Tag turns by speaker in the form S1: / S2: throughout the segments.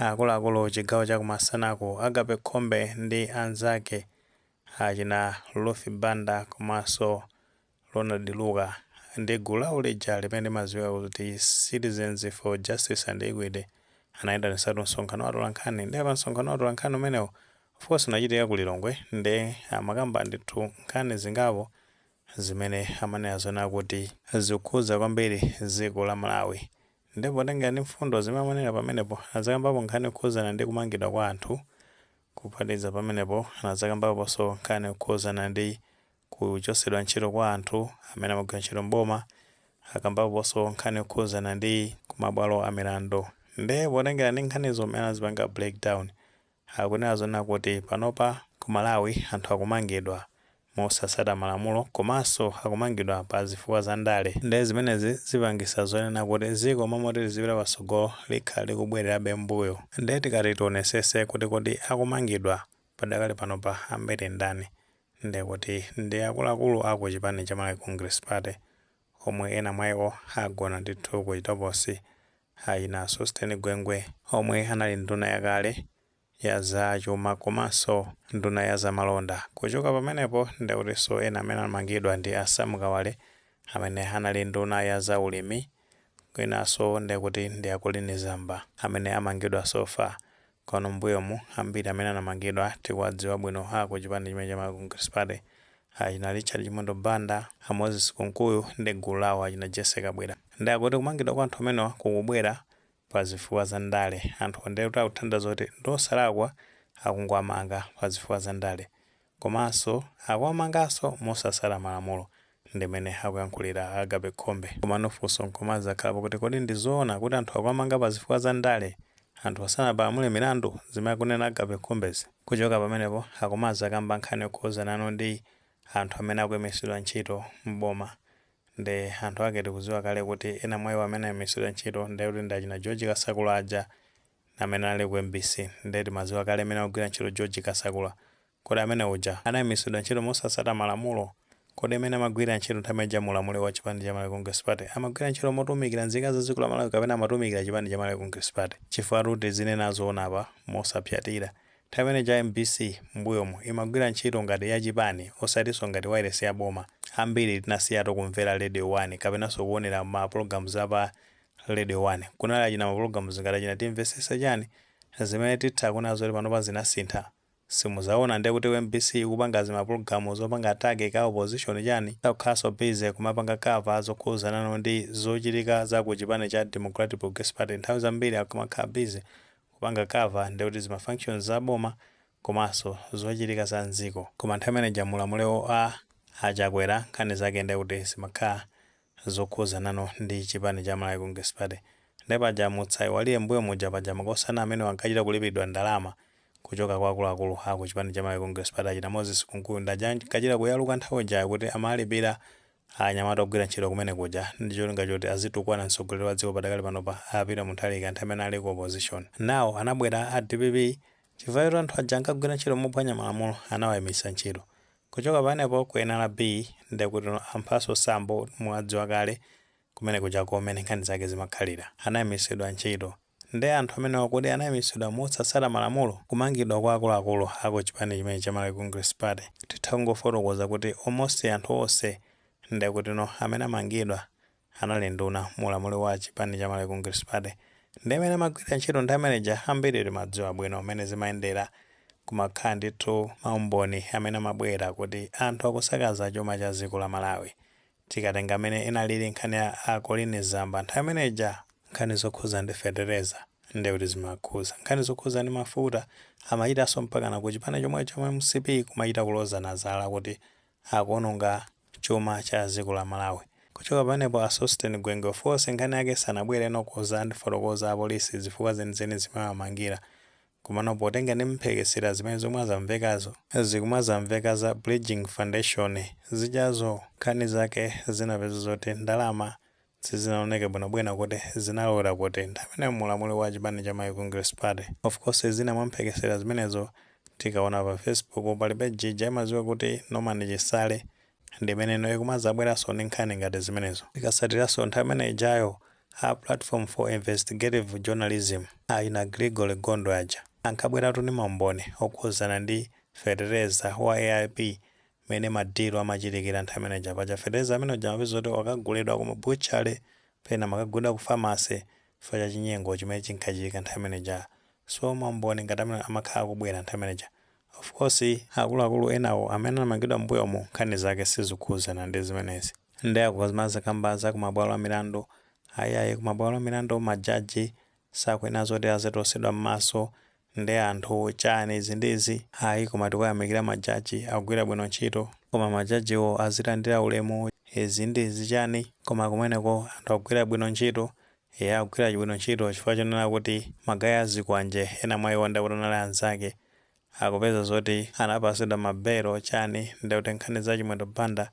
S1: Akuluakulu chigawo cha kumasanaku, Agape Khombe ndi anzake achina Ruth Banda komanso Ronald Luka ndi gulu lawo lija limene limadziwika kuti Citizens for Justice and Equity anayitanitsatu msonkhano wa atolankhani ndiye pa msonkhano wa atolankhani umenewu of course unachitika ku Lilongwe nde amakamba ndithu nkhani zingapo zimene amanena zonena kuti zikukhudza kwambiri dziko la Malawi Nde potengera ndi mfundo zimene amanena pamenepo anadzakambapo nkhani yokhuzana ndi kumangidwa kwa anthu, kuphatikiza pamenepo anadzakambaponso nkhani yokhuzana ndi kuchosedwa ntchito kwa anthu amene amagwira ntchito m'boma, akambaponso nkhani yokhuzana ndi kumabwalo amilandu. Nde potengera ndi nkhanizo m'mene anazipanga break down, Akunena zonena kuti panopa ku Malawi anthu akumangidwa mosatsata malamulo komanso akumangidwa pa zifukwa za ndale nde zimenezi zipangitsa zonena kuti dziko momoti lizipita patsogolo likhala likubwelerabe m'mbuyo nde tikati tionetsetse kuti kodi akumangidwa padakali panopa ambiri ndani ndekuti ndi akuluakulu a ku chipani cha Malawi Congress Party omwe ena mwaiwo agona ndithu ku chitokosi achina Sosten Gwengwe omwe anali nduna yakale ya za chuma komanso nduna ya zamalonda. Kuchoka pamenepo ndekutinso ena amene anamangidwa ndi a Sam Kawale amene anali nduna ya za ulimi winaso ndekuti ndi a Colleen Zamba amene amangidwa so far Kuno mbuyomu ambiri amene anamangidwa tikuwadziwa bwino a ku chipani chimene cha Malawi Congress Party, achina Richard Chimwendo Banda, a Moses Kunkuyu ndi gulu lawo achina Jessy Kabwila. Nde akuti kumangidwa kwa anthu amenewa kukubwera pa zifukwa za ndale. Anthuwa nde kuti akutanthauza kuti ndi osalakwa akungowamanga pa zifukwa za ndale. Komanso akuwamanganso mosasata malamulo, ndimene akuyankhulira a Agape Khombe. Komano funso nkumazakhalapo kuti kodi ndi zoona kuti anthu akuwamanga pa zifukwa za ndale anthu asanapalamule milandu, zimene akunena a Agape Khombezi? Kuchoka pamenepo akumazakamba nkhani yokhuzanano ndi anthu amene akuimitsidwa ntchito m'boma, nde anthu ake tikuziwa kale kuti ena mwa iwo amene ayimitsidwa ntchito ndekuti ndi achina George Kasakula aja, amene anali ku mbc nde timaziwa kale mene amagwira ntchito George Kasakula kodi amene uja anaimisidwa ntchito mosasata malamulo kodi mene amagwilira ntchito nthawi ija mu ulamuliro wa chipani cha Malawi Congress Party amagwira ntchito motumikira nzika za dziko la Malawi kapena amatumikira chipani cha Malawi Congress Party chifukwatu tizinena zoona apa mosaphyatira nthawi imene ija mbc mbuyomu imagwira ntchito ngati ya chipani osatiso ngati wailesi ya boma ambiri tinasiyatu kumvera radio 1 kapenaso kuonera ma programs a pa Radio 1 kunali achina mapologalamu zingati achina timvesesa chani zimene titha kunena zoti panopa zinasintha simuzaona nde kuti mbc ikupanga zimapologalamu zopanga attack ka opposition chani sakukhalaso busy kumapanga cover zokhuzanano ndi zochitika za ku chipani cha Democratic Progressive Party nthawi zambiri akumakhala busy kupanga cover ndi kuti zima functions za boma komaso zochitika za nziko koma nthawi imene ija mulamuliro wa a Chakwera nkhani zake nde kuti zimakhala zokhudzanano ndi chipani cha Malawi Congress Party nde paja musaiwale mbuyo muja paja makosana amenewo ankachita kulipilidwa ndalama kuchoka kwa akuluakulu aku chipani cha Malawi Congress Party achina Moses Kunkuyu nde aja ankachita kuyaluka nthawi ijayo kuti amalipira anyamata ogwira ntchito kumene kuja ndicholinga choti azitukwana mtsogoleri wa dziko padakali panopa a Peter Mutharika nthawi imene anali ku opposition now anabwera a dpp chifukwa choti anthu aja ankagwira ntchito mophwanya malamulo anawaimitsa ntchito Kuchoka pamenepo ku nrb nde kuti amphaso sambo muwadziwa kale kumene kujako mene nkhani zake zimakhalira anayimisidwa ntchito nde anthu amenewa kodi anayimisidwa mosatsata malamulo kumangidwa kwa akuluakulu aku chipani chimenechi cha Malawi Congress Party titha kungofotokoza kuti almost anthu onse ndekutino amene amangidwa anali nduna mu ulamuliro wa chipani cha Malawi Congress Party ndi amene amagwirira ntchito ndi ameneja, ambiri timadziwa bwino mmene zimayendera. Kumakhala ndithu maumboni amene amabwera kuti anthu akusakaza chuma cha dziko la Malawi. Tikatenga mmene inaliri nkhani ya a Colleen Zamba nthawi imene ija, nkhani zokhudza ndi fetereza ndiye kuti zimakhudza, nkhani zokhudza ndi mafuta amachitanso mpakana ku chipani chomwecho cha mcp kumachita kulozana zala kuti akuononga chuma cha ziko la Malawi. Kuchoka pamenepo a Sosten Gwengwe of course nkhani yake sanabwere ndikudzatifotokozera a police zifukwa zenizeni zimene amamangira komano potenga ndi mphekesera zimene zikumadzamvekazo zikumazamveka za Bridgin Foundation zijazo nkhani zake zinapezeka zoti ndalama Sizinaoneke bwino bwino kuti zinalowera kuti nthawi imeneyo mu ulamuliro wa chipani cha Malawi Congress Party. Of course zina mwa mphekesera zimenezo tikaona pa Facebook pa page ija imadziwika kuti Norman Chisale ndi imene ino ikumadzabweranso ndi nkhani ngati zimenezo. Tikatsatiranso nthawi imene ijayo a Platform for Investigative Journalism achina Gregory Gondwe aja ankabweratu ndi maumboni okhudzana ndi fetereza wa AIP mene ma deal amachitikira nthawi imene ija paja fetereza amene uja amapeza kuti akagulidwa ku ma butchery pena amakagulidwa ku pharmacy chifukwa cha chinyengo chimene chinkachitika nthawi imene ija so ma umboni ngati amene amakhala akubwera nthawi imene ija of course akuluakulu enawo amene anamangidwa m'mbuyomu nkhani zake sizikukhudzana ndi zimenezi nde akumazikamba za ku mabwalo a milandu ayi ayi ku mabwalo a milandu ma judge sakuyenera zoti azitosedwa m'maso Nde anthu chani izi ndi izi. Ayi koma tikuyamikira ma judge akugwira bwino ntchito? Koma ma judge wo azilandira ulemu, izi ndi izi chani koma kumeneko anthu akugwira bwino ntchito eya akugwira bwino ntchito chifukwa chonena kuti ma guy a zikwanje ena mwa iwo ndekuti anali anzake akupeza zoti anapasidwa ma bail chani ndekuti nkhani za Chimwendo Banda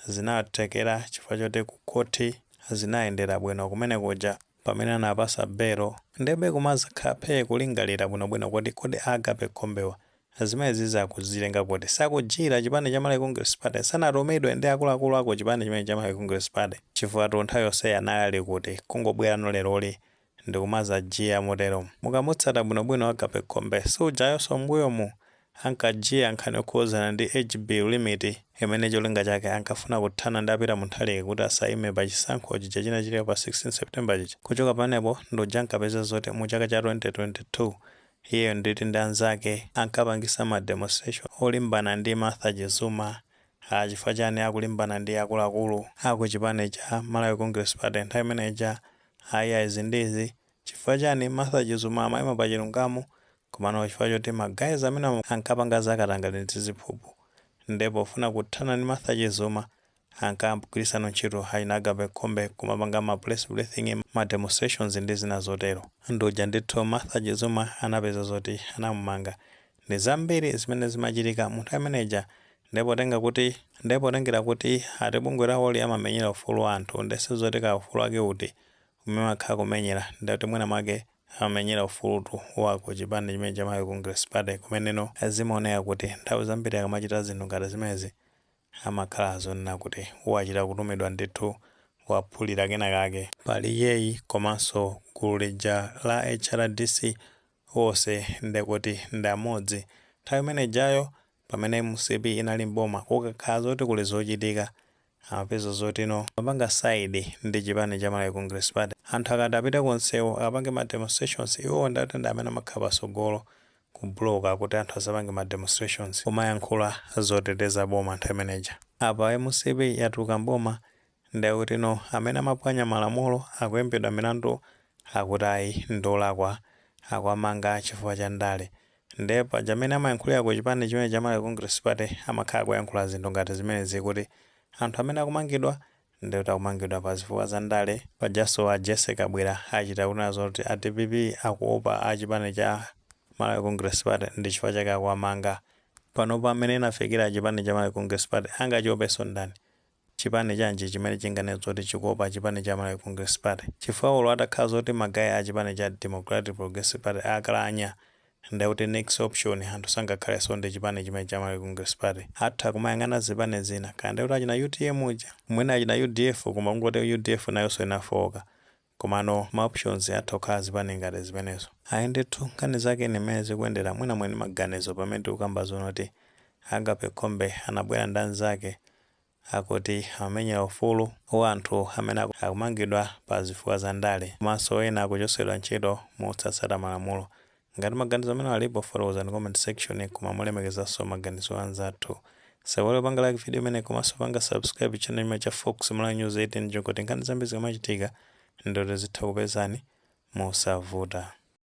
S1: zinawathekera chifukwa choti ku khothi zinayendera bwino kumene kuja pamene anawapasa belo nde pokumazakhala phee kulingalira bwino bwino kuti kodi a Agape Khombewa zimenezizi akuzitenga kuti? Sakujiya chipani cha Malawi Congress Party? Sanatumidwe ndi akuluakulu a ku chipani chimenechi cha Malawi Congress Party? Chifukwa tu nthawi yonseyi anali ali kuti? Kungobwerano leroli ndikumazajiya motero mukamutsata bwinobwino agape khombe si ujayonso mmbuyomu ankajiya nkhani yokhuzana ndi age bill limit imene cholinga chake ankafuna kuthana ndi a Peter Mutharika kuti asayime pa chisankho chija chinachitika pa 16 september chija kuchoka pamenepo ndi uja ankapeza zoti mu chaka cha 2022 iyeyo nditi ndi anzake ankapangisa ma demonstration olimbana ndi martha chizuma haa chifukwa chani akulimbana ndi akuluakulu aku chipani cha malawi congress party nthawi imene ija Aya izi ndi izi, chifukwa chani Martha Chizuma amaima pa chilungamo komano chifukwa choti ma guys amene ankapanga za katangale ndi ziphuphu nde pofuna kuthana ndi Martha Chizuma ankagwirisano ntchito achina Agape Khombe, kumapanga ma press briefing, ma demonstrations ndi zina zotero. Ndi uja ndithu Martha Chizuma anapeza zoti anamumanga Ndi zambiri zimene zimachitika mu nthawi imene ija nde potenga kuti nde potengera kuti ati bungwe lawoli amamenyera ufulu wa anthu nde sizoti kaya ufulu wake uti umene amakhala akumenyera nde kuti mwina mwake amamenyera ufulutu wa ku chipani chimene cha Malawi Congress Party komano zimaoneka kuti nthawi zambiri akamachita zinthu ngati zimenezi amakhala azonena kuti wachita kutumidwa ndithu waphulira kena kake. Pali iyeyi komanso gulu lija la HRDC wose nde kuti ndi amodzi nthawi imene ijayo pamene mcp inali m'boma kukakhala zoti kuli zochitika amapeza zoti no amapanga side ndi chipani cha Malawi Congress Party anthu akati apite ku nsewu akapange ma demonstrations iwowo nde kuti ndi amene amakhala pasogolo ku block kuti anthu asapange ma demonstrations kumayankhula zoteteza boma nthawi imene ija apa mcp yatuluka m'boma ndekuti no amene amapwanya malamulo akuimbidwa milandu akuti ayi ndiolakwa akuwamanga chifukwa cha ndale nde paja amene amayankhulira ku chipani chimene cha Malawi Congress Party amakhala akuyankhula zinthu ngati zimenezi kuti anthu amene akumangidwa ndekuti akumangidwa pa zifukwa za ndale pajaso a Jessie Kabwila achita kunena zoti a dpp akuopa a chipani cha Malawi Congress Party ndi chifukwa chake akuwamanga panopa mmene chafikira chipani cha Malawi Congress Party angachiopeso ndani chipani chanji chimene chinganene zoti chikuopa chipani cha Malawi Congress Party? Chifukwa olo atakhala zoti ma guy a chipani cha Democratic Progressive Party akalanya nde kuti next option anthu sangakhaleso ndi chipani chimenechi cha Malawi Congress Party atha kumayang'ana zipani zina kaya ndekuti achina utm uja mwina achina udf koma kungoti udf nayoso inafooka Komano ma options atha kukhala azipani ngati zimenezo. Ayi ndithu nkhani zake ndi mmene zikuyendera mwina muli ndi maganizo pamene tikukamba zona kuti Agape Khombe anabwera ndi anzake akuti amamenyera ufulu wa anthu amene akumangidwa pa zifukwa za ndale komanso ena akuchotsedwa ntchito mosatsata malamulo Ngati maganizo amenewa alipo fotokozani comment section koma molemekezaso maganizo a anzathu. Osaiwala kupanga like video imeneyi komaso kupanga subscribe channel chimenechi cha Fox Malawi News 8 cholinga choti nkhani zambiri zikamachitika ndiye kuti zitha kupezani mosavuta.